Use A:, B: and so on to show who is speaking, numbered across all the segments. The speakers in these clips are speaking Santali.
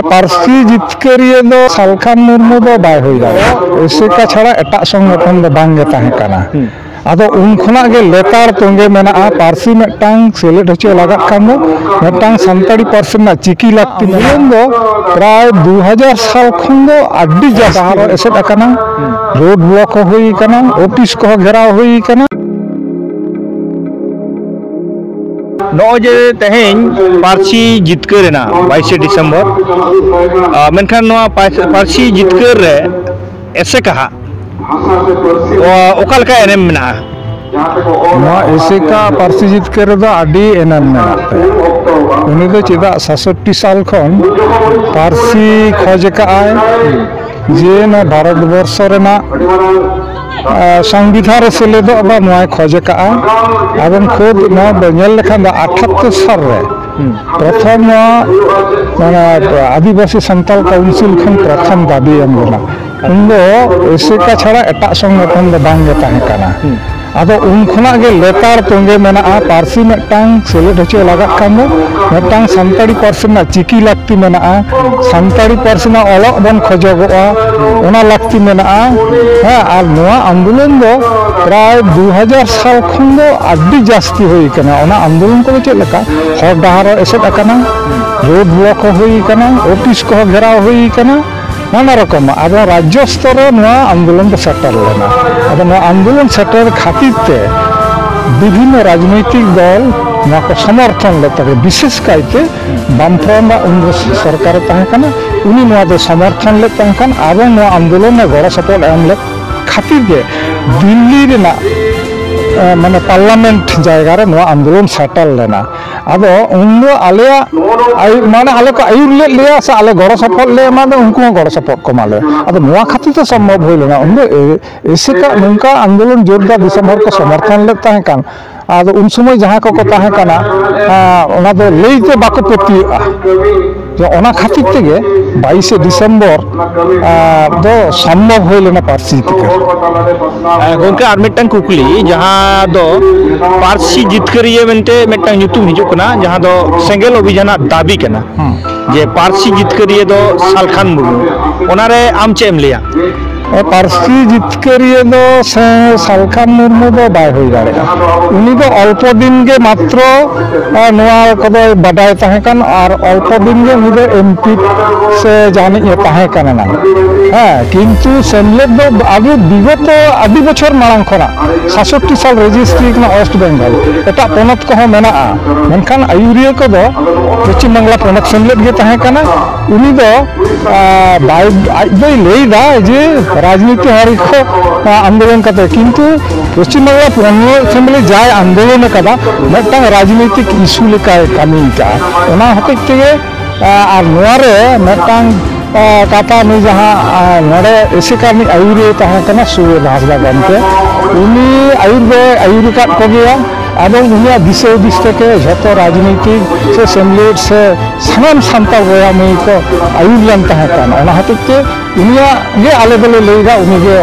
A: ᱯᱟᱹᱨᱥᱤ ᱡᱤᱛᱠᱟᱹᱨᱤᱭᱟᱹ ᱫᱚ ᱥᱟᱞᱠᱷᱟᱱ ᱢᱩᱨᱢᱩ ᱫᱚ ᱵᱟᱭ ᱦᱩᱭ ᱫᱟᱲᱮᱭᱟᱜᱼᱟ ᱮᱥᱮᱠᱟ ᱪᱷᱟᱲᱟ ᱮᱴᱟᱜ ᱥᱚᱝᱜᱚᱴᱷᱚᱱ ᱫᱚ ᱵᱟᱝᱜᱮ ᱛᱟᱦᱮᱸ ᱠᱟᱱᱟ ᱟᱫᱚ ᱩᱱ ᱠᱷᱚᱱᱟᱜ ᱜᱮ ᱞᱮᱛᱟᱲ ᱛᱚᱸᱜᱮ ᱢᱮᱱᱟᱜᱼᱟ ᱯᱟᱹᱨᱥᱤ ᱢᱤᱫᱴᱟᱝ ᱥᱮᱞᱮᱫ ᱦᱚᱪᱚ ᱞᱟᱜᱟᱜ ᱠᱷᱟᱱ ᱫᱚ ᱢᱤᱫᱴᱟᱝ ᱥᱟᱱᱛᱟᱲᱤ ᱯᱟᱹᱨᱥᱤ ᱨᱮᱱᱟᱜ ᱪᱤᱠᱤ ᱞᱟᱹᱠᱛᱤ ᱢᱮᱱᱟᱜ ᱫᱚ ᱯᱨᱟᱭ ᱫᱩ ᱦᱟᱡᱟᱨ ᱥᱟᱞ ᱠᱷᱚᱱ ᱫᱚ ᱟᱹᱰᱤ ᱡᱟᱹᱥᱛᱤ ᱮᱥᱮᱫ ᱟᱠᱟᱱᱟ ᱨᱳᱰ ᱵᱞᱚᱠ ᱦᱚᱸ ᱦᱩᱭ ᱟᱠᱟᱱᱟ ᱚᱯᱷᱤᱥ ᱠᱚᱦᱚᱸ ᱜᱷᱮᱨᱟᱣ ᱦᱩᱭ ᱟᱠᱟᱱᱟ ᱱᱚᱜᱼᱚᱭ ᱡᱮ ᱛᱮᱦᱮᱧ ᱯᱟᱹᱨᱥᱤ ᱡᱤᱛᱠᱟᱹᱨ ᱮᱱᱟ ᱵᱟᱭᱤᱥᱮ ᱰᱤᱥᱮᱢᱵᱚᱨ ᱢᱮᱱᱠᱷᱟᱱ ᱱᱚᱣᱟ ᱯᱟᱹᱨᱥᱤ ᱡᱤᱛᱠᱟᱹᱨ ᱨᱮ ᱮᱥᱮᱠᱟ ᱦᱟᱸᱜ ᱚᱠᱟ ᱞᱮᱠᱟ ᱮᱱᱮᱢ ᱢᱮᱱᱟᱜᱼᱟ ᱱᱚᱣᱟ ᱮᱥᱮᱠᱟ ᱯᱟᱹᱨᱥᱤ ᱡᱤᱛᱠᱟᱹᱨ ᱨᱮᱫᱚ ᱟᱹᱰᱤ ᱮᱱᱮᱢ ᱢᱮᱱᱟᱜ ᱛᱟᱭᱟ ᱩᱱᱤ ᱫᱚ ᱪᱮᱫᱟᱜ ᱥᱟᱥᱚᱴᱴᱤ ᱥᱟᱞ ᱠᱷᱚᱱ ᱯᱟᱹᱨᱥᱤ ᱠᱷᱚᱡᱽ ᱟᱠᱟᱫ ᱟᱭ ᱡᱮ ᱱᱚᱣᱟ ᱵᱷᱟᱨᱚᱛ ᱵᱚᱨᱥᱚ ᱨᱮᱱᱟᱜ ᱥᱚᱝᱵᱤᱫᱷᱟᱱ ᱨᱮ ᱥᱮᱞᱮᱫᱚᱜ ᱫᱚ ᱱᱚᱣᱟᱭ ᱠᱷᱚᱡᱽ ᱟᱠᱟᱫᱼᱟ ᱮᱵᱚᱝ ᱠᱷᱩᱫ ᱱᱚᱣᱟ ᱫᱚ ᱧᱮᱞ ᱞᱮᱠᱷᱟᱱ ᱫᱚ ᱟᱴᱷᱟᱛᱛᱳᱨ ᱥᱟᱞ ᱨᱮ ᱯᱨᱚᱛᱷᱚᱢ ᱱᱚᱣᱟ ᱢᱟᱱᱮ ᱟᱹᱫᱤᱵᱟᱹᱥᱤ ᱥᱟᱱᱛᱟᱲ ᱠᱟᱣᱩᱱᱥᱤᱞ ᱠᱷᱚᱱ ᱯᱨᱚᱛᱷᱚᱢ ᱫᱟᱹᱵᱤ ᱮᱢ ᱞᱮᱱᱟ ᱩᱱ ᱫᱚ ᱮᱥᱮᱠᱟ ᱪᱷᱟᱲᱟ ᱮᱴᱟᱜ ᱥᱚᱝᱜᱚᱴᱷᱚᱱ ᱫᱚ ᱵᱟᱝᱜᱮ ᱛᱟᱦᱮᱸ ᱠᱟᱱᱟ ᱟᱫᱚ ᱩᱱ ᱠᱷᱚᱱᱟᱜ ᱜᱮ ᱞᱮᱛᱟᱲ ᱛᱚᱸᱜᱮ ᱢᱮᱱᱟᱜᱼᱟ ᱯᱟᱹᱨᱥᱤ ᱢᱤᱫᱴᱟᱝ ᱥᱮᱞᱮᱫ ᱦᱚᱪᱚ ᱞᱟᱜᱟᱜ ᱠᱟᱱ ᱫᱚ ᱢᱤᱫᱴᱟᱝ ᱥᱟᱱᱛᱟᱲᱤ ᱯᱟᱹᱨᱥᱤ ᱨᱮᱱᱟᱜ ᱪᱤᱠᱤ ᱞᱟᱹᱠᱛᱤ ᱢᱮᱱᱟᱜᱼᱟ ᱥᱟᱱᱛᱟᱲᱤ ᱯᱟᱹᱨᱥᱤ ᱨᱮᱱᱟᱜ ᱚᱞᱚᱜ ᱵᱚᱱ ᱠᱷᱚᱡᱚᱜᱚᱜᱼᱟ ᱚᱱᱟ ᱞᱟᱹᱠᱛᱤ ᱢᱮᱱᱟᱜᱼᱟ ᱦᱮᱸ ᱟᱨ ᱱᱚᱣᱟ ᱟᱱᱫᱳᱞᱚᱱ ᱫᱚ ᱯᱨᱟᱭ ᱫᱩ ᱦᱟᱡᱟᱨ ᱥᱟᱞ ᱠᱷᱚᱱ ᱫᱚ ᱟᱹᱰᱤ ᱡᱟᱹᱥᱛᱤ ᱦᱩᱭ ᱟᱠᱟᱱᱟ ᱚᱱᱟ ᱟᱱᱫᱳᱞᱚᱱ ᱠᱚᱫᱚ ᱪᱮᱫ ᱞᱮᱠᱟ ᱦᱚᱨ ᱰᱟᱦᱟᱨ ᱦᱚᱸ ᱮᱥᱮᱫ ᱟᱠᱟᱱᱟ ᱨᱳᱰ ᱵᱞᱚᱠ ᱦᱚᱸ ᱦᱩᱭ ᱟᱠᱟᱱᱟ ᱚᱯᱷᱤᱥ ᱠᱚᱦᱚᱸ ᱜᱷᱮᱨᱟᱣ ᱦᱩᱭ ᱟᱠᱟᱱᱟ ᱱᱟᱱᱟ ᱨᱚᱠᱚᱢᱟᱜ ᱟᱫᱚ ᱨᱟᱡᱽᱡᱚ ᱥᱛᱚᱨ ᱨᱮ ᱱᱚᱣᱟ ᱟᱱᱫᱳᱞᱚᱱ ᱫᱚ ᱥᱮᱴᱮᱨ ᱞᱮᱱᱟ ᱟᱫᱚ ᱱᱚᱣᱟ ᱟᱱᱫᱳᱞᱚᱱ ᱥᱮᱴᱮᱨ ᱠᱷᱟᱹᱛᱤᱨ ᱛᱮ ᱵᱤᱵᱷᱤᱱᱱᱚ ᱨᱟᱡᱽᱱᱳᱭᱛᱤᱠ ᱫᱚᱞ ᱱᱚᱣᱟ ᱠᱚ ᱥᱚᱢᱚᱨᱛᱷᱚᱱ ᱞᱮᱫ ᱛᱟᱠᱚᱣᱟ ᱵᱤᱥᱮᱥ ᱠᱟᱭᱛᱮ ᱵᱟᱢᱯᱨᱚᱱ ᱨᱮᱱᱟᱜ ᱩᱱ ᱥᱚᱨᱠᱟᱨᱮ ᱛᱟᱦᱮᱸ ᱠᱟᱱᱟ ᱩᱱᱤ ᱱᱚᱣᱟ ᱫᱚ ᱥᱚᱢᱚᱨᱛᱷᱚᱱ ᱞᱮᱫ ᱛᱟᱦᱮᱸ ᱠᱟᱱ ᱟᱵᱚ ᱱᱚᱣᱟ ᱟᱱᱫᱳᱞᱚᱱ ᱨᱮ ᱜᱚᱲᱚ ᱥᱚᱯᱚᱦᱚᱫ ᱮᱢ ᱞᱮᱫ ᱠᱷᱟᱹᱛᱤᱨ ᱜᱮ ᱫᱤᱞᱞᱤ ᱨᱮᱱᱟᱜ ᱢᱟᱱᱮ ᱯᱟᱨᱞᱟᱢᱮᱱᱴ ᱡᱟᱭᱜᱟ ᱨᱮ ᱱᱚᱣᱟ ᱟᱱᱫᱳᱞᱚᱱ ᱥᱮᱴᱮᱞ ᱞᱮᱱᱟ ᱟᱫᱚ ᱩᱱ ᱫᱚ ᱟᱞᱮᱭᱟᱜ ᱟᱹᱭᱩᱨ ᱢᱟᱱᱮ ᱟᱞᱮ ᱠᱚ ᱟᱹᱭᱩᱨ ᱞᱮᱫ ᱞᱮᱭᱟ ᱥᱮ ᱟᱞᱮ ᱜᱚᱲᱚ ᱥᱚᱯᱚᱦᱚᱫ ᱞᱮ ᱮᱢᱟᱫᱟ ᱩᱱᱠᱩ ᱦᱚᱸ ᱜᱚᱲᱚ ᱥᱚᱯᱚᱦᱚᱫ ᱠᱚ ᱮᱢᱟᱞᱮᱭᱟ ᱟᱫᱚ ᱱᱚᱣᱟ ᱠᱷᱟᱹᱛᱤᱨ ᱛᱮ ᱥᱚᱢᱵᱷᱚᱵ ᱦᱩᱭ ᱞᱮᱱᱟ ᱩᱱ ᱫᱚ ᱮᱥᱮᱠᱟ ᱱᱚᱝᱠᱟ ᱟᱱᱫᱳᱞᱚᱱ ᱡᱳᱨᱫᱟᱨ ᱫᱤᱥᱚᱢ ᱦᱚᱲ ᱠᱚ ᱥᱚᱢᱚᱨᱛᱷᱚᱱ ᱞᱮᱫ ᱛᱟᱦᱮᱸ ᱠᱟᱱ ᱟᱫᱚ ᱩᱱ ᱥᱚᱢᱚᱭ ᱡᱟᱦᱟᱸ ᱠᱚᱠᱚ ᱛᱟᱦᱮᱸ ᱠᱟᱱᱟ ᱚᱱᱟ ᱫᱚ ᱞᱟᱹᱭ ᱛᱮ ᱵᱟᱠᱚ ᱯᱟᱹᱛᱭᱟᱹᱜᱼᱟ ᱛᱚ ᱚᱱᱟ ᱠᱷᱟᱹᱛᱤᱨ ᱛᱮᱜᱮ ᱵᱟᱭᱤᱥᱮ ᱰᱤᱥᱮᱢᱵᱚᱨ ᱫᱚ ᱥᱚᱢᱵᱷᱚᱵ ᱦᱩᱭ ᱞᱮᱱᱟ ᱯᱟᱹᱨᱥᱤ ᱡᱤᱛᱠᱟᱹᱨ ᱜᱚᱝᱠᱮ ᱟᱨ ᱢᱤᱫᱴᱟᱝ ᱠᱩᱠᱞᱤ ᱡᱟᱦᱟᱸ ᱫᱚ ᱯᱟᱹᱨᱥᱤ ᱡᱤᱛᱠᱟᱹᱨᱤᱭᱟᱹ ᱢᱮᱱᱛᱮ ᱢᱤᱫᱴᱟᱝ ᱧᱩᱛᱩᱢ ᱦᱤᱡᱩᱜ ᱠᱟᱱᱟ ᱡᱟᱦᱟᱸ ᱫᱚ ᱥᱮᱸᱜᱮᱞ ᱚᱵᱷᱤᱡᱟᱱᱟᱜ ᱫᱟᱹᱵᱤ ᱠᱟᱱᱟ ᱡᱮ ᱯᱟᱹᱨᱥᱤ ᱡᱤᱛᱠᱟᱹᱨᱤᱭᱟᱹ ᱫᱚ ᱥᱟᱞᱠᱷᱟᱱ ᱢᱩᱨᱢᱩ ᱚᱱᱟᱨᱮ ᱟᱢ ᱪᱮᱫ ᱮᱢ ᱞᱟᱹᱭᱟ ᱯᱟᱹᱨᱥᱤ ᱡᱤᱛᱠᱟᱹᱨᱤᱭᱟᱹ ᱫᱚ ᱥᱟᱞᱠᱷᱟ ᱢᱩᱨᱢᱩ ᱫᱚ ᱵᱟᱭ ᱦᱩᱭ ᱫᱟᱲᱮᱭᱟᱜᱼᱟ ᱩᱱᱤ ᱫᱚ ᱚᱞᱯᱚ ᱫᱤᱱ ᱜᱮ ᱢᱟᱛᱨᱚ ᱱᱚᱣᱟ ᱠᱚᱫᱚᱭ ᱵᱟᱰᱟᱭ ᱛᱟᱦᱮᱸ ᱠᱟᱱ ᱟᱨ ᱚᱞᱯᱚ ᱫᱤᱱ ᱜᱮ ᱩᱱᱤ ᱫᱚ ᱮᱢ ᱯᱤ ᱥᱮ ᱡᱟᱦᱟᱱᱤᱡ ᱮ ᱛᱟᱦᱮᱸ ᱠᱟᱱᱟ ᱱᱟᱝ ᱦᱮᱸ ᱠᱤᱱᱛᱩ ᱥᱮᱢᱞᱮᱫ ᱫᱚ ᱟᱵᱚ ᱵᱤᱜᱚᱛᱚ ᱟᱹᱰᱤ ᱵᱚᱪᱷᱚᱨ ᱢᱟᱲᱟᱝ ᱠᱷᱚᱱᱟᱜ ᱥᱟᱛᱥᱚᱴᱴᱤ ᱥᱟᱞ ᱨᱮᱡᱤᱥᱴᱨᱤ ᱠᱟᱱᱟ ᱳᱭᱮᱥᱴ ᱵᱮᱝᱜᱚᱞ ᱮᱴᱟᱜ ᱯᱚᱱᱚᱛ ᱠᱚᱦᱚᱸ ᱢᱮᱱᱟᱜᱼᱟ ᱢᱮᱱᱠᱷᱟᱱ ᱟᱹᱭᱩᱨᱤᱭᱟᱹ ᱠᱚᱫᱚ ᱯᱚᱪᱷᱤᱢ ᱵᱟᱝᱞᱟ ᱯᱚᱱᱚᱛ ᱥᱮᱢᱞᱮᱫ ᱜᱮ ᱛᱟᱦᱮᱸ ᱠᱟᱱᱟ ᱩᱱᱤ ᱫᱚ ᱵᱟᱭ ᱟᱡ ᱫᱚᱭ ᱞᱟᱹᱭᱫᱟ ᱡᱮ ᱨᱟᱡᱽᱱᱤᱛᱤ ᱦᱟᱹᱨᱤ ᱠᱚ ᱟᱱᱫᱳᱞᱚᱱ ᱠᱟᱛᱮ ᱠᱤᱱᱛᱩ ᱯᱚᱥᱪᱤᱢ ᱵᱟᱝᱞᱟ ᱛᱨᱤᱱᱢᱩᱞ ᱮᱥᱮᱢᱵᱞᱤ ᱡᱟᱭ ᱟᱱᱫᱳᱞᱚᱱ ᱟᱠᱟᱫᱟ ᱢᱤᱫᱴᱟᱝ ᱨᱟᱡᱽᱱᱤᱛᱤᱠ ᱤᱥᱩ ᱞᱮᱠᱟᱭ ᱠᱟᱹᱢᱤ ᱟᱠᱟᱫᱼᱟ ᱚᱱᱟ ᱦᱚᱛᱮᱡ ᱛᱮᱜᱮ ᱟᱨ ᱱᱚᱣᱟ ᱨᱮ ᱢᱤᱫᱴᱟᱝ ᱠᱟᱛᱷᱟ ᱱᱩᱭ ᱡᱟᱦᱟᱸ ᱱᱚᱰᱮ ᱮᱥᱮᱠᱟ ᱨᱤᱱᱤᱡ ᱟᱹᱭᱩᱨᱤᱭᱟᱹ ᱛᱟᱦᱮᱸ ᱠᱟᱱᱟ ᱥᱩᱨᱮᱱ ᱦᱟᱸᱥᱫᱟ ᱜᱚᱢᱠᱮ ᱩᱱᱤ ᱟᱹᱭᱩᱨ ᱫᱚᱭ ᱟᱹᱭᱩᱨ ᱟᱠᱟᱫ ᱠᱚᱜᱮᱭᱟ ᱟᱫᱚ ᱩᱱᱤᱭᱟᱜ ᱫᱤᱥᱟᱹ ᱦᱩᱫᱤᱥ ᱛᱮᱜᱮ ᱡᱷᱚᱛᱚ ᱨᱟᱡᱽᱱᱤᱛᱤ ᱥᱮ ᱥᱮᱢᱞᱮᱫ ᱥᱮ ᱥᱟᱱᱟᱢ ᱥᱟᱱᱛᱟᱲ ᱵᱚᱭᱦᱟ ᱢᱟᱹᱭ ᱠᱚ ᱟᱹᱭᱩᱨ ᱞᱮᱱ ᱛᱟᱦᱮᱸ ᱠᱟᱱᱟ ᱚᱱᱟ ᱦᱚᱛᱮᱡ ᱛᱮ ᱩᱱᱤᱭᱟᱜ ᱜᱮ ᱟᱞᱮ ᱫᱚᱞᱮ ᱞᱟᱹᱭᱫᱟ ᱩᱱᱤ ᱜᱮ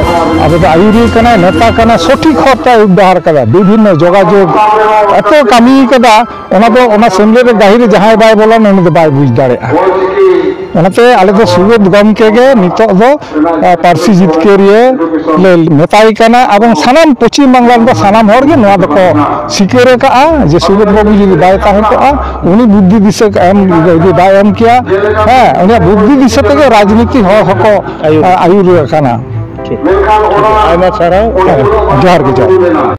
A: ᱟᱵᱚ ᱫᱚ ᱟᱹᱭᱩᱨᱤᱭᱟᱹ ᱠᱟᱱᱟᱭ ᱱᱮᱛᱟ ᱠᱟᱱᱟᱭ ᱥᱚᱴᱷᱤᱠ ᱦᱚᱨ ᱛᱮ ᱟᱹᱭᱩᱨ ᱰᱟᱦᱟᱨ ᱠᱟᱫᱟ ᱵᱤᱵᱷᱤᱱᱱᱚ ᱡᱳᱜᱟᱡᱳᱜᱽ ᱮᱛᱚ ᱠᱟᱹᱢᱤ ᱠᱟᱫᱟ ᱚᱱᱟ ᱫᱚ ᱚᱱᱟ ᱥᱮᱢᱞᱮᱫ ᱨᱮ ᱜᱟᱹᱦᱤᱨ ᱨᱮ ᱡᱟᱦᱟᱸᱭ ᱵᱟᱭ ᱵᱚᱞᱚᱱ ᱩᱱᱤ ᱫᱚ ᱵᱟᱭ ᱵᱩᱡᱽ ᱫᱟᱲᱮᱭᱟᱜᱼᱟ ᱚᱱᱟᱛᱮ ᱟᱞᱮ ᱫᱚ ᱥᱩᱵᱳᱫᱷ ᱜᱚᱢᱠᱮ ᱜᱮ ᱱᱤᱛᱚᱜ ᱫᱚ ᱯᱟᱹᱨᱥᱤ ᱡᱤᱛᱠᱟᱹᱨᱤᱭᱟᱹ ᱞᱮ ᱢᱮᱛᱟᱭ ᱠᱟᱱᱟ ᱮᱵᱚᱝ ᱥᱟᱱᱟᱢ ᱯᱚᱪᱷᱤᱢ ᱵᱟᱝᱞᱟ ᱨᱮᱫᱚ ᱥᱟᱱᱟᱢ ᱦᱚᱲ ᱜᱮ ᱱᱚᱣᱟ ᱫᱚᱠᱚ ᱥᱤᱠᱟᱹᱨ ᱟᱠᱟᱫᱼᱟ ᱡᱮ ᱥᱩᱵᱳᱫᱷ ᱵᱟᱹᱵᱩ ᱡᱩᱫᱤ ᱵᱟᱭ ᱛᱟᱦᱮᱸ ᱠᱚᱜᱼᱟ ᱩᱱᱤ ᱵᱩᱫᱽᱫᱷᱤ ᱫᱤᱥᱟᱹ ᱮᱢ ᱡᱩᱫᱤ ᱵᱟᱭ ᱮᱢ ᱠᱮᱭᱟ ᱦᱮᱸ ᱩᱱᱤᱭᱟᱜ ᱵᱩᱫᱽᱫᱷᱤ ᱫᱤᱥᱟᱹ ᱛᱮᱜᱮ ᱨᱟᱡᱽᱱᱤᱛᱤ ᱦᱚᱲ ᱦᱚᱸᱠᱚ ᱟᱹᱭᱩᱨ ᱟᱠᱟᱱᱟ ᱟᱭᱢᱟ ᱥᱟᱨᱦᱟᱣ ᱡᱚᱦᱟᱨ ᱜᱮ ᱡᱚᱦᱟᱨ